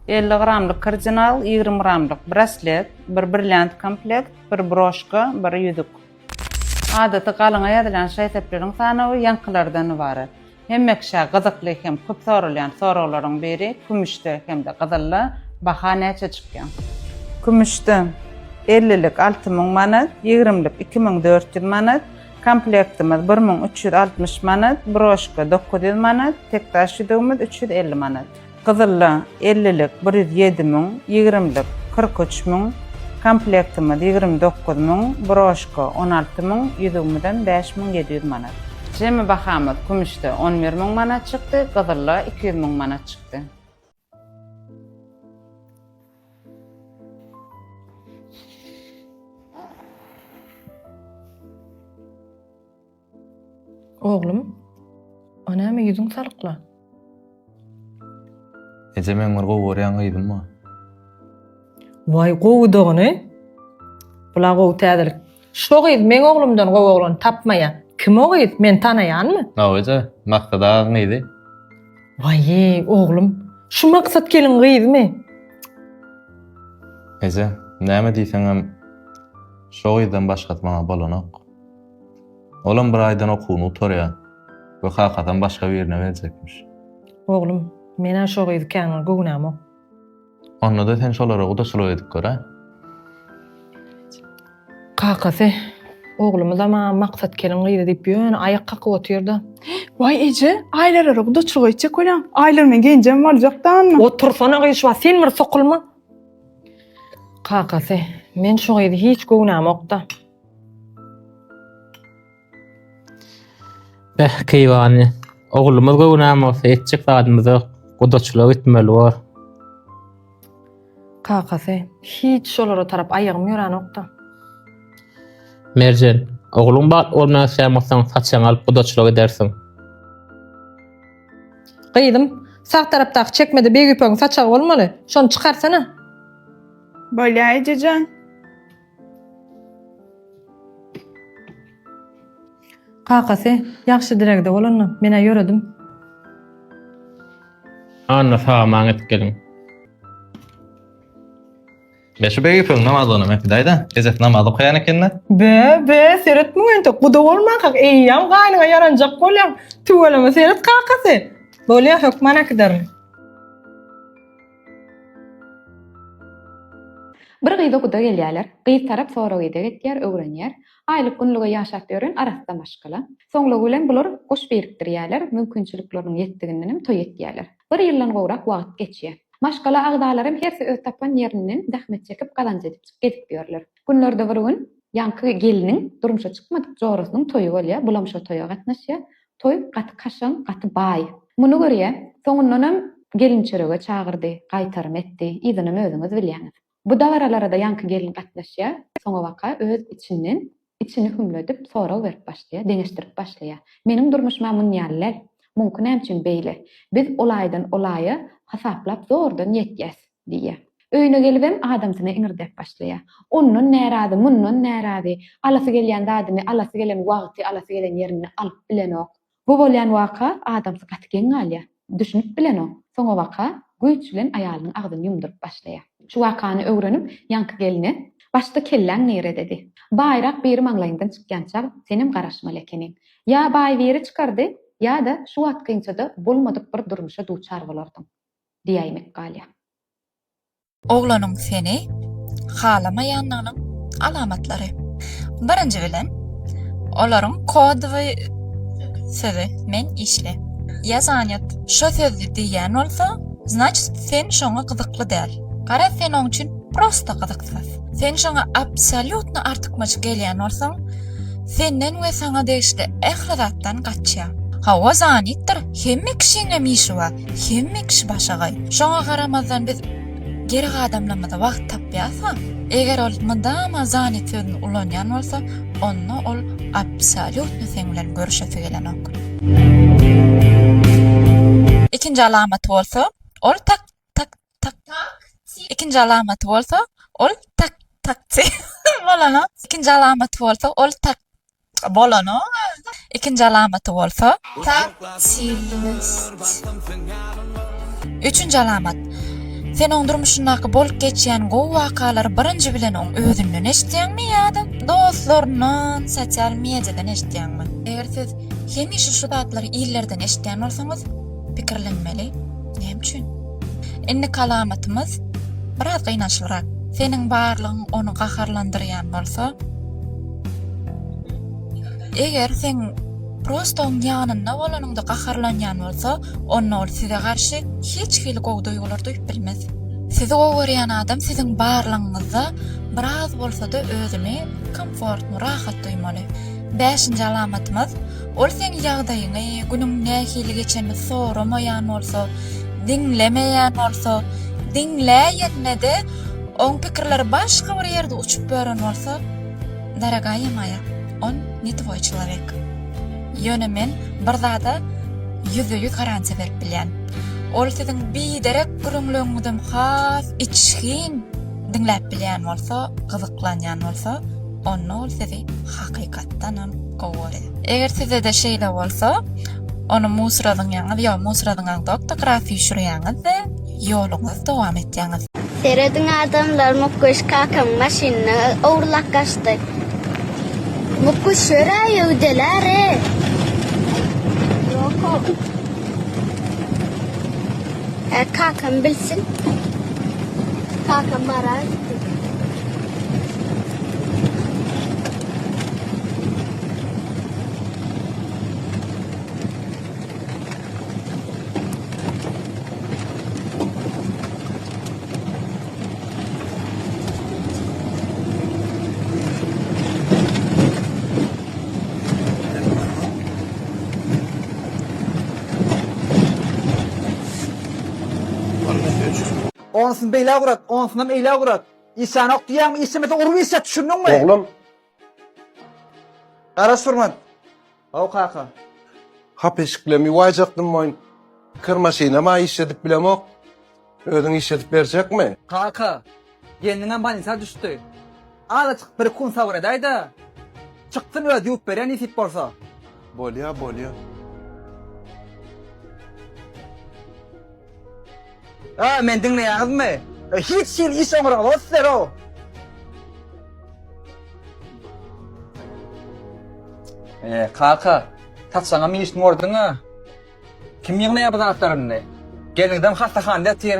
elli gramlyk kardinal, ýigrimi gramlyk braslet, bir brilliant komplekt, bir broşka, bir ýüzük. Adaty galyňa ýazylan şaý-sepleriň sanawy ýaňkylardan ybarat. Hemme kişä gyzykly hem köp soralýan soraglaryň biri kümüşde hem-de gyzylda baha näçe çykýar? Kümüşde, ellilik alty müň manat, ýigrimlik iki müň dört ýüz manat, komplektimiz bir müň üç ýüz altmyş manat, broşka dokuz ýüz manat, tekdaş ýüzügimiz üç ýüz elli manat. Gyzylla ellilik bir ýüz ýedi müň, ýigrimlik kyrk üç müň, komplektimiz ýigrimi dokuz müň, broşka on alty müň, ýüzügimizem bäş müň ýedi ýüz manat. Jemi bahamyz kümüşde on bir müň manat çykdy, gyzylla iki ýüz müň manat çykdy. Oglum, a näme ýüzüň salykla? Eje meň bir gowy görýän gyzym bar. Waý gowy dogany. Bula gowy täzelik. Şo gyz meň oglumdan gowy oglan tapmaýar. Kim o gyz? Men tanaýanmy? Hawa eje, Maksat agaň gyzy. Waýý, oglum, şu Maksat gelin gyzymy? Eje, näme diýseňem şo gyzdan başgasy maňa bolanok. Olam bir aýdan okuwyny gutarýar we kakasam başga birine berjekmiş. Oglum, men-ä şo gyzy kän bir göwünämok. Onda-da sen şolara gudaçylyk edip gör-ä. Kakasy, Oglumyzam-a Maksat keliň gyzy diýip ýöne aýak kakyp otyr-da. Waý eje, Aýlalara gudaçylyk etjek bolýaň. Aýlar meň genjem boljak danda. Otursana gyşba, sen bir sokulma. Kakasy, men şo gyzy hiç göwünämok-da. Beh, keýwany. Oglumyz göwünäm bolsa, etjek zadymyz ýok. Gudaçylyga gitmeli bor. Kakasy, hiç şolara tarap aýagym ýöränok-da. Merjen, ogluň bagtly bolmagyny isleýän bolsaň, saçagyňy alyp gudaçylyk edersiň. Gyzym, sag tarapdaky çekmede Begüýpegiň saçagy bolmaly. Şony çykarsana. Bolýar ejejan. Kakasy ýagşy diregde bolanda men-ä ýöredim. Anna sag-aman gidip geliň. Meşe beg ýüpüň namaz oňam äkidäý-dä. Ejesi namaz okaýan eken-dä. Be, be, seret muňa entek guda bolmankak eýýäm gaýnyňa ýaranjak bolýaň. Tüweleme seret kakasy. Bolýa, hökman äkiderin. Bir gyza guda gelýärler. Gyz tarap sorag ideg etýär, öwrenýär. Aýlyk-günlige ýaşap ýören arassa maşgala. Soňlugy bilen bular goş birikdirýärler, mümkinçilikleriniň ýetdigindenem toý etýärler. Bir ýyldan gowrak wagt geçýär. Maşgala agzalaram hersi öz tapan ýerinden zähmet çekip gazanç edip gezip ýörler. Günlerde bir gün ýaňky gelniň durmuşa çykmadyk jorasynyň toýy bolýar, bulam şo toýa gatnaşýar. Toý gaty kaşaň, gaty baý. Muny görýä, soňundanam gelinçörege çagyrdy, gaýtarym etdi, yzynam özüňiz bilýäňiz. Bu dabaralara-da ýaňky gelin gatnaşýa, soňabaka öz içinden, içini hümledip, sorag berip başlaýa, deňeşdirip başlaýa. Meniň durmuşym-a munýaly däl. Muňky nämçün beýle? Biz olaýdan olaýa hasaplap zordan ýetýäs. Diýýär. Öýüne gelibem adamsyna iňirdäp başlaýar. Ondan närazy, mundan närazy. Alasy gelýän zadyny alasy gelen wagty, alasy gelen ýerinde alyp bilenok. Bu bolýan waka adamsy gaty geň galýar. Düşünip bilenok. Soňabaka güýç bilen aýalynyň agzyny ýumduryp başlaýar. Şu wakany öwrenip, ýaňky gelne, Başda kelläň nirededi? Baýrak biri maňlaýyňdan çykýança senem garaşmaly ekeniň. Ýa baý biri çykardy, ýa-da şu wagt kynçada bolmadyk bir durmuşa duçar bolardyň. diýäýmek galýa. Oglanyň seni halamaýandygynyň alamatlary. Birinji bilen, olaryň kodowy sözi, men işli, ýa zanýot, şo sözi diýýän bolsa, znaçit sen şoňa gyzykly däl. Garaz sen oň üçin prosta gyzyksyz. Sen şoňa absolýutno artykmaç gelýän bolsaň, senden we saňa degişli ähli zatdan gaçýar. Hawa zanýtdyr, hemme kişiňem işi bar. Hemme kişi başagaý. Şoňa garamazdan biz geri gadamlamaza wagt tapýarys-a. Eger ol mydama zanit sözüni ulanýan bolsa, onda ol absolýutno seň bilen görüşesi gelenok. Ikinji alamaty bolsa, ol tak, tak, tak, tak, ikinji alamaty bolsa, ol tak, tak, tak, bolana, ikinji alamaty bolsa, ol tak, Bolanyň özi ikinji alamaty bolsa. Tap çilist. Üçünji alamat. Sen oň durmuşyndaky bolup geçýän gowy wakalary birinji bilen oň özünden eşitýäňmi ýa-da dostlaryndan, sosial mediadan eşitýäňmi? Eger siz hemişe şu zatlary illerden eşitýän bolsaňyz, pikirlenmeli. Näme üçin? Indiki alamatymyz biraz gynançlyrak. Seniň barlygyň ony gaharlandyrýan bolsa. Eger seň prosto oň ýanynda bolanyňda gaharlanýan bolsa, onda ol size garşy hiç hili gowy duýgular duýup bilmez. Sizi gowy görýän adam siziň barlygyňyzda biraz bolsa-da özüni komfortny, rahat duýmaly. Bäşinji alamatymyz, ol seň ýagdaýyňy, günüň nähili geçenini soramaýan bolsa, diňlemeýän bolsa, diňläýende-de oň pikirleri başga bir ýerde uçup ýören bolsa, Daragaýa Maýa, on ne twoi çelowek. Ýöne men bir zada ýüzde-ýüz garantiýa berip bilýän. Ol siziň biderek gürrüňleriňizem has içgin diňläp bilýän bolsa, gyzyklanýan bolsa, onda ol sizi hakykatdanam gowy görýär. Eger sizede şeýle bolsa, ony musradyňýaňyz, ýok, musradyňaňzok-da, grafy şurýaňyz-de. Ýoluňyz dowam etýäňiz. Serediň adamlar Mukkuş kakamyň maşynyny ogurlap gaçdy. Mukkuş şörä öwdelärä. Ýokok. Ä kakam bilsin. Kakam barar. Onusyn beýle gurat, onusynam eýle gurat. Işanok diýýäňmi, işemese urup işe, düşündiňmi? Oglum, Garaş Furman. Haw kaka. Hap eşiklem ýuwaýjakdym boýun. Kir maşynam-a işledip bilemok. Özüň işledip berjekmi? Kaka, gelniňem bolnisa düşdi. Azajyk bir-iki gün sabyr edäý-de, çykdyn özi ýuwup berýär nesip bolsa. Bolýa, bolýa. A meni diňleýäňizmi? E hiç hili iş oňuraglygy sizler-ow. E kaka, saçaňam işini gördüň-a. Kim ýygnaýar bu zatlary indi? Gelniňizem hassahanada ýatyr.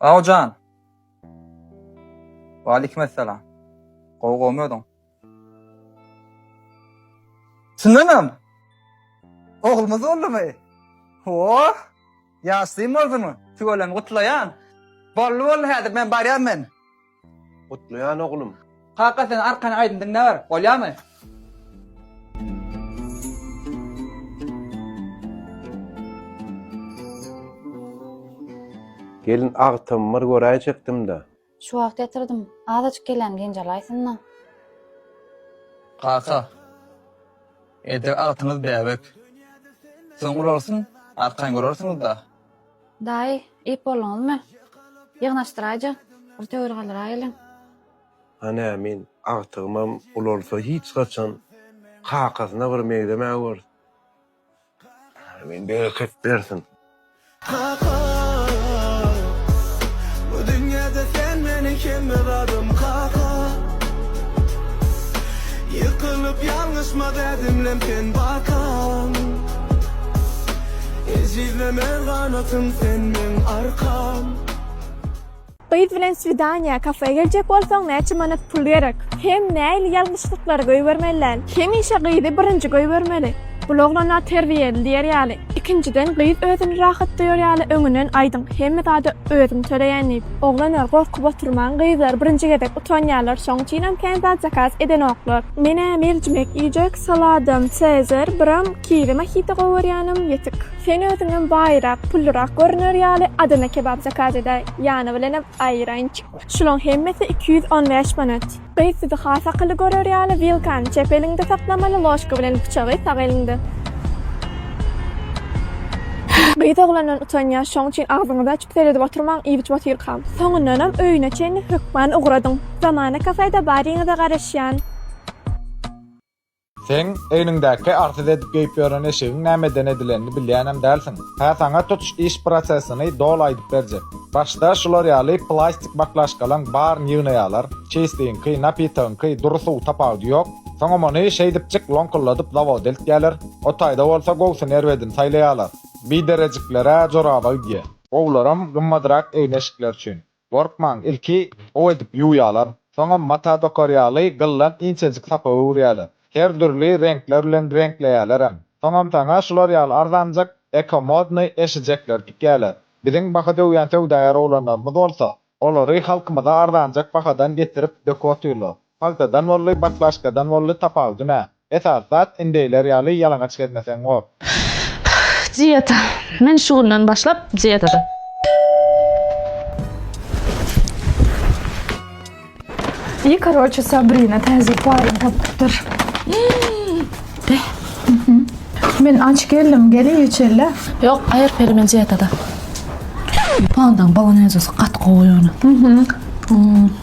Awjan. Wa aleykim assalam. Gowy gowy özüň. Çyndanam. Oglumyz boldumy? Oh! Ýaşlymy boldumy? Tüweleme gutlaýan. Boldy boldy häzir men barýan men. Gutlaýan oglum. Kaka sen arkan aýdym diňläber. Bolýamy? Gelin agtam bir göräýjekdim-de. Şu wagt ýatyrdym. Azajyk gelýän genjalaýsyn-da. Kaka. Edil agtyňyz bäbek. Soň urarsyň, arkan görersiňiz-da. Daýy, iýip bolduňyzmy? Ýygnaşdyraýjy, bir töwir galyraýeliň. Hany ämin, agtygymam ulalsa hiç haçan kakasyna bir meňzemägörs. Ämin bereket bersin. Kaka, bu dünýede sen meniň hemme zadym, kaka. Ýykylyp ýalňyşma dädimlem sen bakan. Ejizleme ganatym sen meň arkam. Gyz bilen swidaniýa, kafe geljek bolsaň näçe manat pul gerek? Hem näili ýalňyşlyklary goýbermeli däl? Hemişe gyzy birinji goýbermeli. Bul oglana terbiýeli diýer ýaly. Ikinjiden gyz özüni rahat duýar ýaly öňünden aýdyň hemme zady özüň töleýän diýip. Oglanlar gorkup oturmaň gyzlar birinji gezek utanýarlar şoň üçinem kän zat zakaz edenoklar. Menä merjimek iýjek saladam cezar biram Kiri mojito gowy görýänim ýetik. Sen özüňem baýrak, pullyrak görüner ýaly Adana kebap zakaz edäý, ýany bilenem aýranç. Şulaň hemmesi iki ýüz on bäş manat. Gyz sizi has akylly görer ýaly wilkany çep eliňde saklamaly ložka bilen pyçagy sag eliňde. Gyz oglandan utanýa şoň üçin agzyňyzy açyp seredip oturmaň iýip-içip otyrkam. Soňundanam öýüne çenli hökman ugradyň. Zamana kafe-de baryňyza garaşýan. Seň egniňdäki arsyz edip geýip ýören eşigiň nämeden edilenini bilýänem dälsiň. Hä saňa tutuş iş prosesini doly aýdyp berjek. Başda şular ýaly plastik baklaşkalaň baryny ýygnaýalar, çeýsligiňki, napitagyňky dury suw tapawudy ýok. Soňam ony şeýdipjik loňkulladyp zawoda eltýäler. O taýda bolsa gowusyn erbedini saýlaýalar. Biderejikler-ä joraba gidýä. Gowularam gymmadrak egin-eşikler üçin. Gorkmaň, ilki gowy edip ýuwýarlar, soňam mata dokar ýaly gyldan inçejik sapa öwürýärler. Her dürli reňkler bilen reňkleýärlerem. Soňam saňa şular ýaly arzanjak, eko-modnyý eşijekleri tikýärler. Biziň baha döwýän söwdagär oglanlarymyz bolsa, olary halkymyza arzanjak bahadan getirip döküp otyrlar. Paltadan bolly, baklaşkadan bolly tapawudy nä? Esas zat indeýler ýaly ýalaňaç gezmeseň bor. Dieta. Men şu günden başlap dietada. I karoçe Sabrina täze paryny tapypdyr. Men aç geldim, gel iý içerle. Ýok, aýyr peri men dietada. Pandaň bolonezasy gaty gowy ýöne.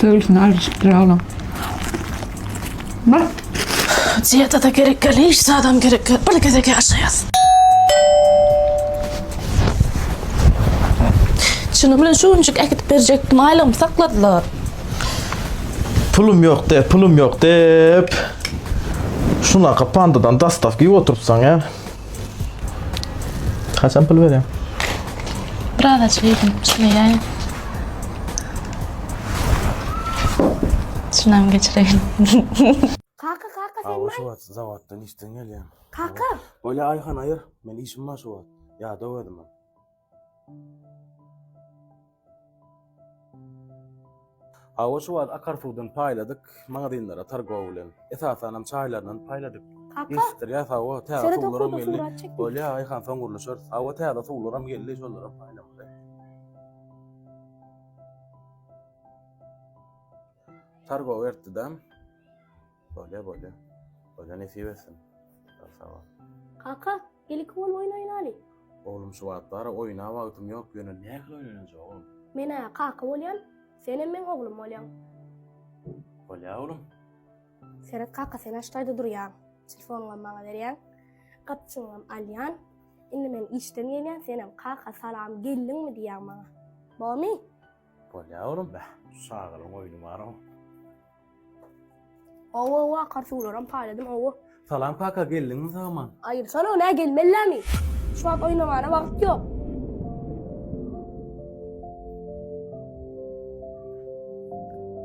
Sögülsün alyjyk bir oglan. Bak. Ziyada da gerek gel, hiç zadam gerek gel. Bir gezek yaşayas. Şunu bilen şu güncük ekip berjekdim, aylygym sakladylar. Pulum yok de, pulum yok dep. Şuna kapandıdan dastav gibi oturup sana. Kaçan pul berýär? Biraz açyk yedim. Düşünmeyeyim. Şundan geçireyim. Kaka kaka sen Awa şu wagt zawatdan işden gelýän. Kaka. Bolýa Aýhan aýyr. Men işim bar şu wagt. Ýadaw özüm. Hawa şu wagt akar suwdan paýladyk, magazynlara targow bilen. Esasanam çaýlaryndan paýladyk. Kaka. Ýetişdirýäs hawa, täze Şeýle suwlaram dokundyk, geldi. surat çekdik. Bolýa, aýhan soň gürleşeris. Hawa täze suwlaram geldi, şolaram paýlamaly. Targow ertdi-dä. Bolýa bolýa. Bolýa nesip etsin. Sag sag bol. Kaka, gel iki bolup oýun oýnaly. Oglum şu wagtlar oýna wagtym ýok ýöne nähili oýnanajagym. Menä kaka bolýan, senem meň oglum bolýaň. Bolýa oglum. Seret kaka sen aştaýda durýaň. Telefonyňam maňa berýäň. Gapjygyňam alýan. Indi men işden gelýän senem kaka salam geldiňmi diýýäň maňa. Bormy? Bolýar oglum beh, şu çagalaryň oýny bar-ow. Hawa-hawa, akar suwlaram paýladym, hawa. Salam kaka, geldiňmi sag-aman? Aýyrsana, nä gelmellämi? Şu wagt oýnamana wagt ýok.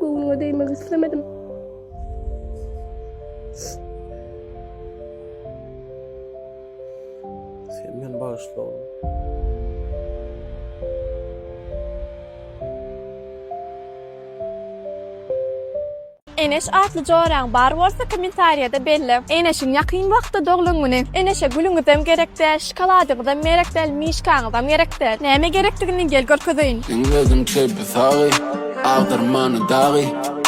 Göwnüňe degmek islemedim. Sen meni bağışla oğlum. Eneş atly joraň bar bolsa kommentariýada belle. Eneşiň ýakyn wagtda doglan güni. Eneşe gülüňizem gerekdäş. Şokoladyňyzam merek däl, mişkaňyzam gerek däl. Näme gerekdigini gel görkezeýin. Iň özüm çepi sagy, agdarmany dagy,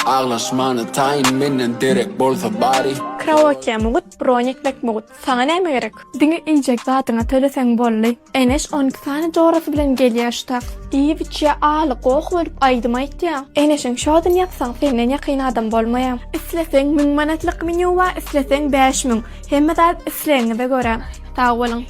aglaşmany taýyn menden derek bolsa bari. Kraoke mugut, broň etmek mugut. Saňa näme gerek? Diňe iýjek zadyňa töleseň boldy. Eneş on iki sany jorasy bilen gelýä şu tak. Iýip içýä aly goh bolup aýdym aýtýa. Eneşiň şodyn ýatsaň senden ýakyn adam bolmaýa. Isleseň müň manatlyk menýu bar isleseň bäş müň. Hemme zat islegiňize görä. Sag boluň.